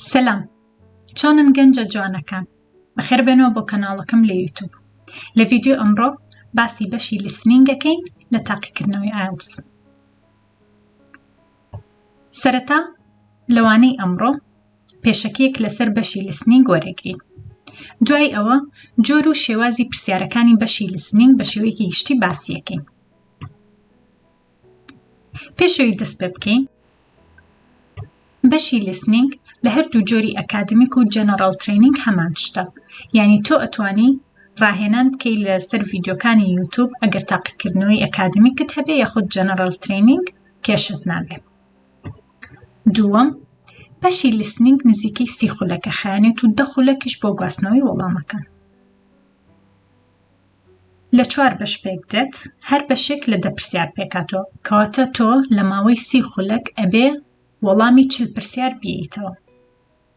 سەلام چۆنن گەنجە جوانەکان بەخێر بێنەوە بۆ کەناڵەکەم لە یوتوب لە ڤیددیو ئەمڕۆ باسی بەشی لیسنینگەکەین لە تاقیکردنەوەی ئایلس سەرەتا لەوانەی ئەمڕۆ پێشەکیەک لەسەر بەشی لیسنینگ وەرەگرین دوای ئەوە جۆر و شێوازی پرسیارەکانی بەشی لیسنینگ بە شێوەیەکی گشتی باسیەکەین پێشەوی دەست پێ بکەین بەشی لیسنینگ لە هەردوو جۆری ئەکادمیک و جەنەڕال ترینینگ هەمان شتە یعنی تۆ ئەتوانی ڕاهێنان بکەی لەسەر ڤیددیوکانی یوتوب ئەگەر تاقیکردنەوەی ئەکادمیکت هەبێ یاخود جەنەڕال ترینینگ کێشت نابێ دووەم، بەشی لیسنینگ نزیکەی سی خولەکە خایەنێت و دە خولەکیش بۆ گواستنەوەی وەڵامەکان. لە چوار بەش پێک دێت، هەر بەشێک لە دە پرسیار پێکاتەوە، کەواتە تۆ لە ماوەی سی خولەک ئەبێ وەڵامی چل پرسیار بیەیتەوە.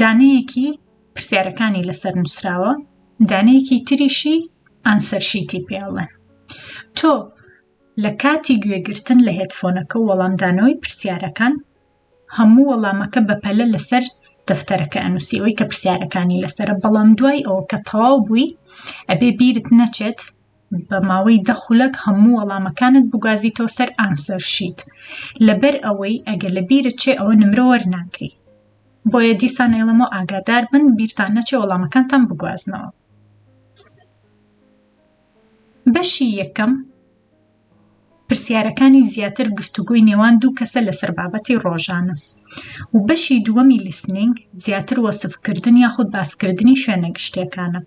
دانەیەکی پرسیارەکانی لەسەر نووسراوە دانەیەکی تریشی ئانسەرشیتی پێ ئەڵێن تۆ لە کاتی گوێگرتن لە هێدفۆنەکە و وەڵامدانەوەی پرسیارەکان هەموو وەڵامەکە بەپەلە لەسەر دەفتەرەکە ئەنووسیەوەی کە پرسیارەکانی لەسەر بەڵام دوای ئەوە کە تەواو بووی ئەبێ بیرت نەچێت بە ماوەی دە خولەک هەموو وەڵامەکانت بگوازیتەوە سەر ئانسەر شیت لەبەر ئەوەی ئەگە لە بیرت چێ ئەوە نمرە وەرناگری بۆیە دیسان ئێڵەمە ئاگادار بن بیرتان نەچێ وەڵامەکانتان بگوازنەوە بەشی یەکەم پرسیارەکانی زیاتر گفتوگۆی نێوان دوو کەسە لەسەر بابەتی ڕۆژانە و بەشی دووەمی لیسنینگ زیاتر وەسفکردن یاخود باسکردنی شوێنە گشتیەکانە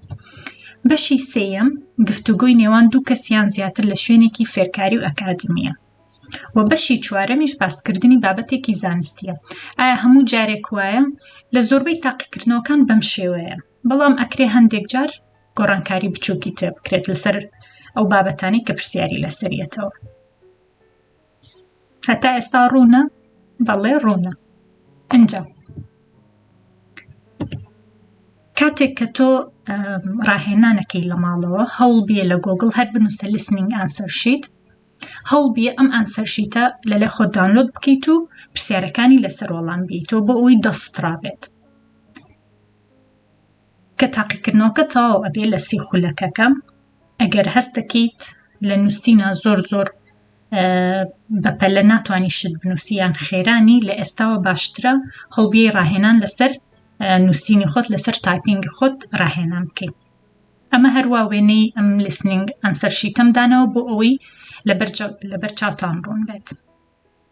بەشی سێیەم گفتوگۆی نێوان دوو کەسیان زیاتر لە شوێنێکی فێرکاری و ئەکادمیە و بەشی چوارەمیش باسکردنی بابەتێکی زانستیە ئایا هەموو جارێک وایە لە زۆربەی تاقیکردنەوەکان بەم شێوەیە بەڵام ئەکرێ هەندێک جار گۆڕانکاری بچووکی تێ بکرێت لەسەر ئەو بابەتانی کە پرسیاری لەسەریەتەوە هەتا ئێستا ڕوونە بەڵێ ڕوونە ئەجا کاتێک کە تۆ ڕاهێنانەکەی لە ماڵەوە هەوڵ بیە لە گۆگل هەر بنووسە لسننگ ئاسەر شیت هەڵ بیە ئەم ئەنسەرشیتە لە لە خۆ داونلۆد بکەیت و پرسیارەکانی لەسەر وەڵام بیتەوە بۆ ئەوی دەسترابێت کە تاقیکردنەوەکە تەواو ئەبێ لە سی خولەکەکە ئەگەر هەست دەکەیت لە نووسینا زۆر زۆر بەپەلە ناتوانانی شت بنووسیان خێرانی لە ئێستاوە باشترە هەڵبیێ ڕاهێنان لەسەر نووسینی خۆت لەسەر تایپینگ خۆت ڕاهێنان بکەیت ئەمە هەروە وێنەی ئەم لیسننگ ئەنسەر شیتەمدانەوە بۆ ئەوەی لەبەر چاوتان ڕوون بێت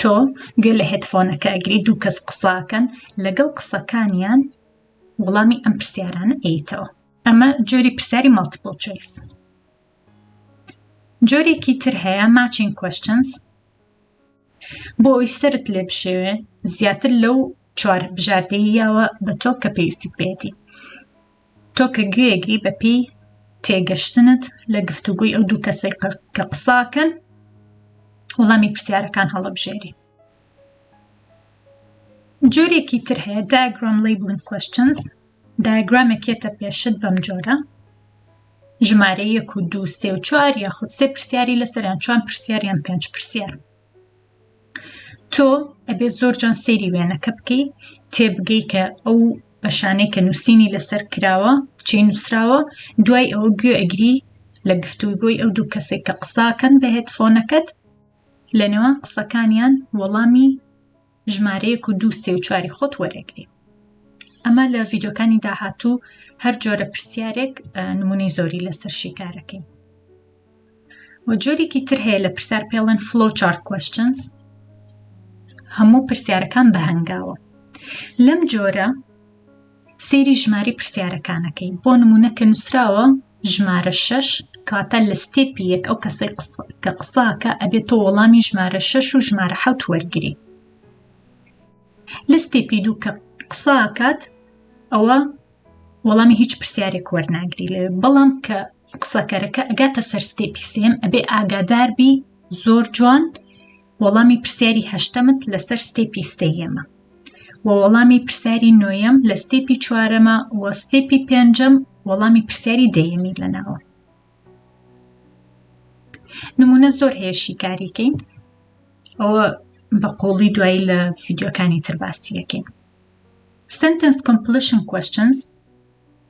تۆ گوێ لە هێدفۆنەکە ئەگری دوو کەس قساکەن لەگەڵ قسەکانیان وڵامی ئەم پرسیارانە ئەیتەوە ئەمە جۆری پرسیاری مەڵتیپل چۆیس جۆرێکی تر هەیە ماچین کوشنس بۆ ئەوی سرت لێ بشێوێ زیاتر لەو چوار بژاردەیەوە بە تۆ کە پێویستیت بێتی تۆ کە گوێیەگری بە پێی تێگەشتنت لە گفتوگۆی ئەو دوو کەسەی کە قساکەن وڵامی پرسیارەکان هەڵەبژێری جۆرێکی تر هەیە دایگرام لیبلن کوشنز دایگرامێکێتە پێشت بەم جۆرە ژمارە یەک و دو سێ و چوار یاخود سێ پرسیاری لەسەریان چوان پرسیاریان پێنج پرسیار تۆ ئەبێ زۆر جان سەیری وێنەکە بکەی تێبگەی کە ئەو بەشانەی کە نووسینی لەسەر کراوە چی نووسراوە دوای ئەوە گوێ ئەگری لە گفتوگۆی ئەو دوو کەسێک کە قساکەن بە هێتفۆنەکەت لە نێوان قسەکانیان وەڵامی ژمارەیەک و دوو سێ و چواری خۆت وەرەگری ئەمە لە ڤیددیوکانی داهاتوو هەر جۆرە پرسیارێک نمونەی زۆری لەسەر شیکارەکەی و جۆرێکی تر هەیە لە پرسیار پێڵەن فلۆ چارت کوشنس هەموو پرسیارەکان بە هەنگاوە لەم جۆرە سەیری ژمارەی پرسیارەکانەکەی بۆ نمونە کە نووسراوە ژمارە شەش کاتە لە ستێپی یەک ئەو کەسەی کە قساکە ئەبێت تۆ وەڵامی ژمارە شەش و ژمارە حوت وەرگری لە ستێپی دوو کە قساکات ئەوە وەڵامی هیچ پرسیارێک وەرناگری لێ بەڵام کە قسەکەرەکە ئەگاتە سەر ستێپی سێم ئەبێ ئاگادار بی زۆر جوان وەڵامی پرسیاری هەشتەمت لەسەر ستێپی ستەیەمە و وەڵامی پرسیاری نۆیەم لە ستێپی چوارەمە و ستێپی پێنجەم وەڵامی پرسیاری دەیەمی لەناوە نمونە زۆر هەیە شیکاریکەین ئەوە بە قۆڵی دوایی لە فیددیوەکانی تر باسی یەکەین سنتنس کۆمپلیشن کوشنز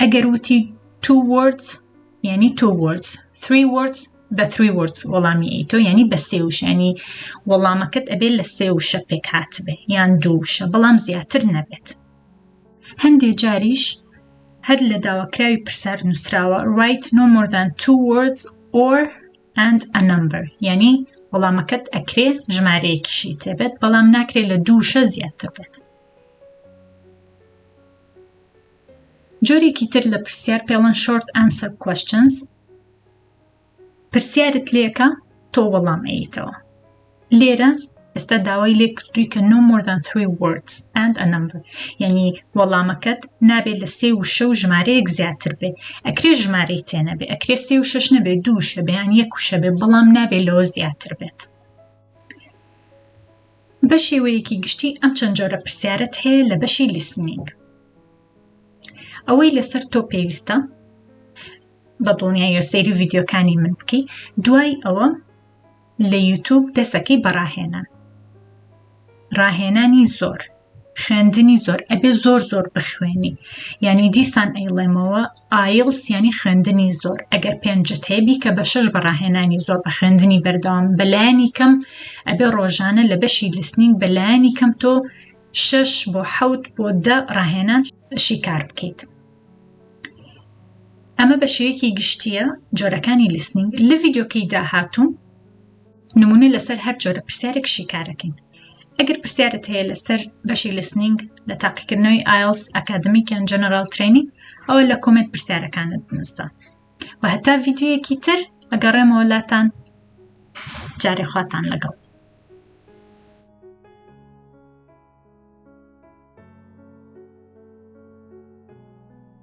ئەگەر وتی two words یعنی two words three words بە three words وەڵامی ئەیتۆ یعنی بە سێ وشانی وەڵامەکەت ئەبێت لە سێ وشە پێک هاتبێ یان دوو وشە بەڵام زیاتر نەبێت هەندێ جاریش هەر لە داواکراوی پرسار نووسراوە write no more than two words or and a number یعنی وەڵامەکەت ئەکرێ ژمارەیەکیشی تێبێت بەڵام ناکرێت لە دووشە زیاتر بێت جۆرێکی تر لە پرسیار پێڵن شۆرت ئەنسەر کوشنس پرسیارت لێکە تۆ وەڵام ئەیتەوە لێرە ئێستا داوای لێ کردووی کە no more than three words and a number یعنی وەڵامەکەت نابێت لە سێ وشە و ژمارەیەک زیاتر بێت ئەکرێ ژمارەی تێنەبێ ئەکرێ سێ و شش نەبێ دووشە بەیان یەک وشە بێ بەڵام نابێت لەوە زیاتر بێت بە شێوەیەکی گشتی ئەم چەند جۆرە پرسیارەت هەیە لە بەشی لیسنینگ ئەوەی لەسەر تۆ پێویستە بە دڵنیایە سەیری ڤیددیوکانی من بکەی دوای ئەوە لە یوتوب دەسەکەی بەڕاهێنان ڕاهێنانی زۆر خوێندنی زۆر ئەبێ زۆر زۆر بخوێنی ینی دیسان ئەیڵێمەوە ئایڵس یانی خوێندنی زۆر ئەگەر پێنجت هەیە بیکە بە شەش بە ڕاهێنانی زۆر بە خوێندنی بەردەوام بەلایانی کەم ئەبێ ڕۆژانە لە بەشی لسنینگ بەلایانی کەم تۆ شەش بۆ حەوت بۆ دە ڕاهێنان شیکار بکەیت ئەمە بە شێوەیەکی گشتیە جۆرەکانی لیسننگ لە ڤیددیوکەی داهاتوو نمونە لەسەر هەر جۆرە پرسیارێک شیکارەکەین ئەگەر پرسیارت هەیە لەسەر بەشی لسنینگ لە تاقیکردنەوەی ئایلس ئەکادمیک یان جەنەرال ترینینگ ئەوە لە کۆمێنت پرسیارەکانت بنووسە و هەتا ڤیددیویەکی تر ئەگەڕێمەوە لاتان جارێ خواتان لەگەڵ